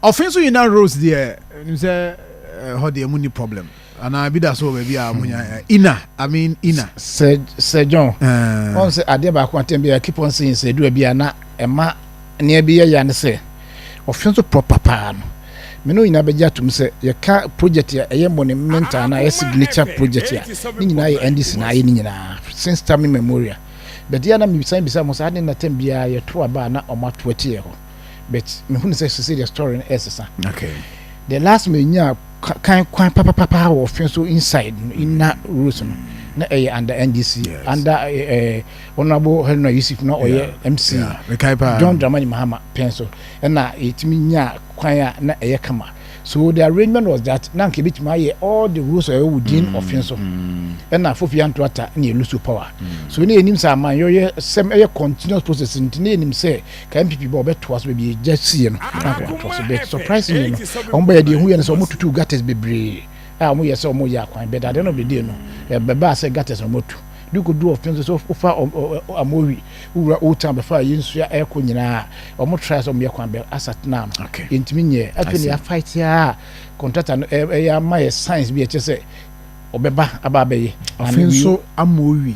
Ɔfe so nyina Rose deɛ nim sɛ eh, hɔ deɛ mu ni problem anaa bi da so wɔ baabi a mo nya hmm. eh, ina I mean ina. Sɛ sɛ John eh. wɔn sɛ adeɛ baako atɛn bi a keep on saying sɛ edura bi a na ɛma nea bi yɛ ya ne sɛ ɔfe nso proper paa no mene nyinaa bɛgye atom sɛ yɛka project a ɛyɛ monumental na ɛyɛ signature project a ne nyinaa yɛ ndc na ayɛ ne nyinaa since time memorial bɛdeɛ na mebisan bisa mo sɛ ade na tam biara yɛto aba a na ɔmo ato akyiyɛ hɔ but me hu ne sɛ sese deɛ story no ɛsesa okay the last me nya kan kwan papapapa wɔ fɛn so inside no mm. inner roads no na ɛyɛ under ndc yes. under ɛɛ eh, eh, honourable henry yusuf na ɔyɛ yeah. mc yeah. john dramani mahama pɛn so ɛna yɛtumi nya kwan a na ɛyɛ kama so the arrangement was that na nka ebitumi ayɛ all the rules ɛwɔ within mm. ɔfin so mm. ɛna fofi anto ata na yɛ lose power mm. so ne yɛ nim sɛ aman yɛ yɛ sɛm ɛyɛ continuous process nti ne yɛ nim sɛ. Ka NPP bɔ ɔbɛtoa so baabi egya sie no na akɔ atoa so but surprisingly no wɔn bɛyɛ deɛ ehu yɛ no sɛ wɔn tutu gutters bebree a wɔn yɛ sɛ wɔn yɛ akwan but at the end of the day no ɛbɛbaa sɛ gutters na wɔn atu de kɔ du ɔfɛn so sɛ wofa amowi wura old town bɛfa a yɛn nsuo ɛkɔ nyinaa wɔn try sɛ wɔn yɛ kwan bɛ asa tena no yɛntumi nyɛ afei na yɛafight a contractor no ɛyɛ ama yɛ science bi ɛkyɛ sɛ ɔbɛba aba abɛyɛ afei nso amowi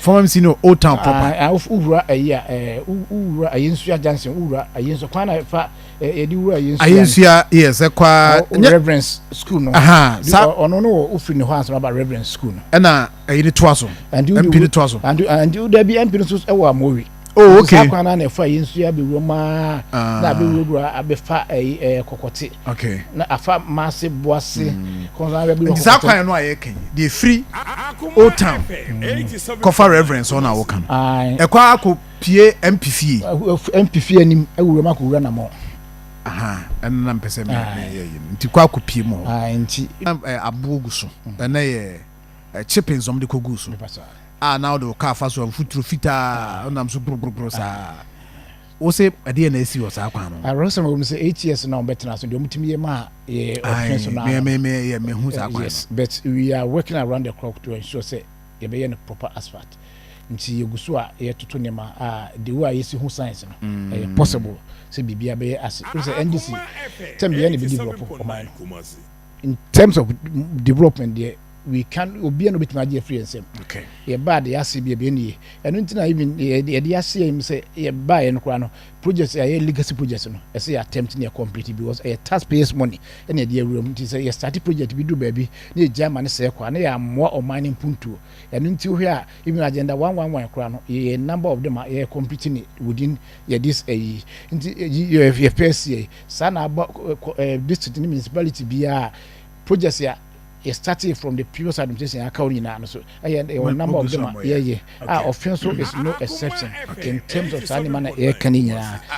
former mc no old town proper. Ah, ah, wura ayi a eh, wura ayi nsua johnson wura ayi nsua kwan na fa yɛde wura ayi nsua ayi nsua yes ɛkwa reverence school no aha sa ɔno no wɔ ofiri ne hɔ ansa aba reverence school no ɛna ayi ne toa so mp ne toa so and da bi mp no so ɛwɔ amowi Oh, okay. Saa kwan na ɛfa yɛn nso yɛ abɛwura mu ara ah. na abɛwurawura abɛfa ɛyi eh, ɛyɛ eh, kɔkɔte. Okay. Na afa maase boase. Hmm. Kɔnsa abɛwura kɔkɔte. Nti saa kwan no a yɛ kɛn yi deɛ firi old town hmm. kɔfa reverence ɔna awo kan. Ɛkɔ akɔ pie MP fie. MP fie anim awura mu akɔwura na mɔ. Aha, ɛno na mpɛ sɛ mɛ yɛ yi no nti kɔ akɔ pie mu hɔ. Nti aboɔ gu so ɛnɛ yɛ. ɛkye pensɔm de kɔguu so a na wode wo kaa fa so a mfuturo fitaa wonam so gborogborogoro saa wo se ɛdeɛ na asi wɔ saa kwan no awurɛsɛm wɔ mu sɛ eight years na wɔbɛtena so deɛ wɔtumi yɛ ma yɛ ɔfin so no mehu saa kwan yes but we are working around the clock to ensure sɛ yɛbɛyɛ no proper asphalt nti yɛgu so a yɛtoto nneɛma a de wo a yɛsi ho science no mm. ɛyɛ possible sɛ biribia bɛyɛ ase sɛ ndc tɛm bia ne bɛdevelop ɔman no in terms of development deɛ we can obiara na obetumi agye afiri yɛn nsam okay yɛbaa de ase bi ebien nie ɛno nti na even yɛde ase yɛn mu sɛ yɛbaa yɛn koraa no project ɛyɛ legacy project no ɛsɛ yɛ attempt ne yɛ complete because ɛyɛ taxpayers money ɛna ɛde awura mu nti sɛ yɛ start project bi du baabi na yɛgya ama ne sɛ kɔ a na yɛ amoa ɔman no mpuntuo ɛno nti wohwɛ a even agenda one one one koraa no yɛ number of them a yɛ complete ne within yɛ this ɛyi nti yɛ first year Saa na aba kɔ ɛɛ district ne municipality biara a projects a yɛ starting from the previous administration aka wɔn nyinaa no so ɛyɛ ɛwɔ number of them a yɛyɛ a ɔfɛn so is no exception in terms of saa nneɛma na yɛka ne nyinaa.